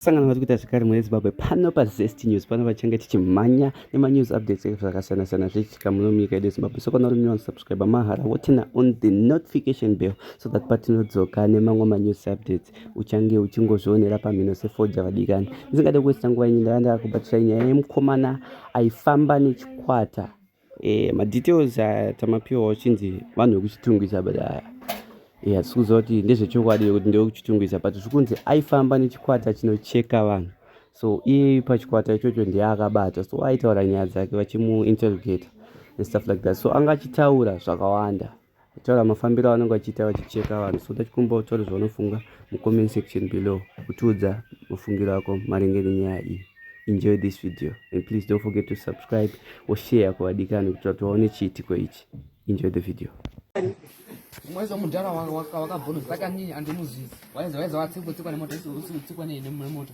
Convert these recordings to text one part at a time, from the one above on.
sangano vari kuita zvekare mune zimbabwe pano pazest news pano vachange tichimhanya nemanews updates ekuti zvakasiyana siyana zvichiitika muno munyika yedu yezimbabwe so kana uri new unsubscribe mahara wotina on the notification bell so that patinodzoka nemamwe manews updates uchange uchingozvionera pamhino sefoja vadikani ndisingade kuwesta nguva inyi ndava ndava kubatisai nyaya yemukomana aifamba nechikwata Eh, madetails aya tamapiwa uchinzi vanhu vekuchitungwiza but aya yeah, sikuziva kuti ndezvechokwadi vekuti ndewekuchitungwiza but zvikunzi aifamba nechikwata chinocheka vanhu so iye pachikwata ichocho ndiye akabata so aitaura nyaya dzake vachimuinterrogata and stuff like that so anga achitaura zvakawanda Taura mafambiro avanenge vachiita vachicheka vanhu so tachikumbawo taura zvaunofunga mucomment section below kutiudza mafungiro ako maringe nenyaya iyi enjoy this video and please don't forget to subscribe or share kuvadikani kuitira kuti vaone chiitiko ichi enjoy the video mwaiza mudhara wakabvonozaka nini andimuzivi waiza waiza watsikwa tsikwa nemota usikutsikwa nemoto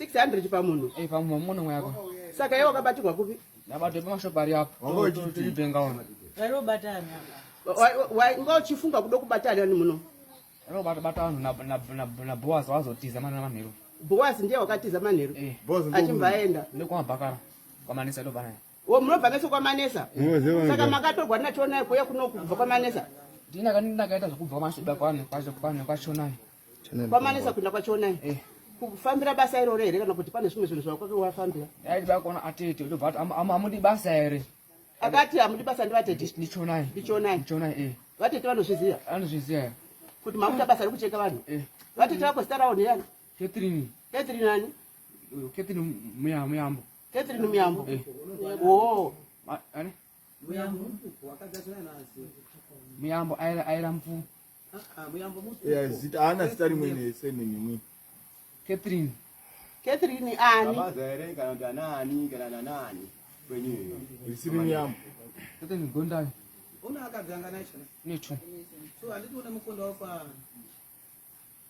600 pamunhu eh pamunhu munhu mwako saka yeye wakabatirwa kupi nabato pamashop ari apo toipenga ona rero batani why ngo chifunga kudo kubatana ni muno rero bata bata vanhu na na na, na boas wazotiza mana manhero boas ndiye wakatiza manhero eh. achimbaenda nekwa bakara kwa manesa ndo bana wo munobva meso kwa manesa saka makatorwa na chonai kuya kuno kubva kwa manesa ndina kanina kaita zvekubva mashiba kwani kwacho kwani kwa chonai kwamanesa kuenda kwachionai eh. kufambira basa iroro here kana kuti pane zvimwe zvinhu zvakwake wafambira aidibakona atete ndobva amudi basa here akati hamudi basa ndivatete ndichonai ndichonai ndichonai eh. vatete vanozviziva anozviziva kuti makuta basa rekucheka vanhu eh. vatete vako zita ravo ndiyani catherine catherine ani catherine muyambo catherine muyambo oo muyambo aira mvuu Yeah, zita haana zita rimweni surname imweni. Catherine. Catherine ani? Baba zaere kana kuti anaani kana nanaani kwenyu iyo. Risiri miyambo. Catherine Gondayo. Una akadzanga nacho. Necho. So anditi une mukondo wafa.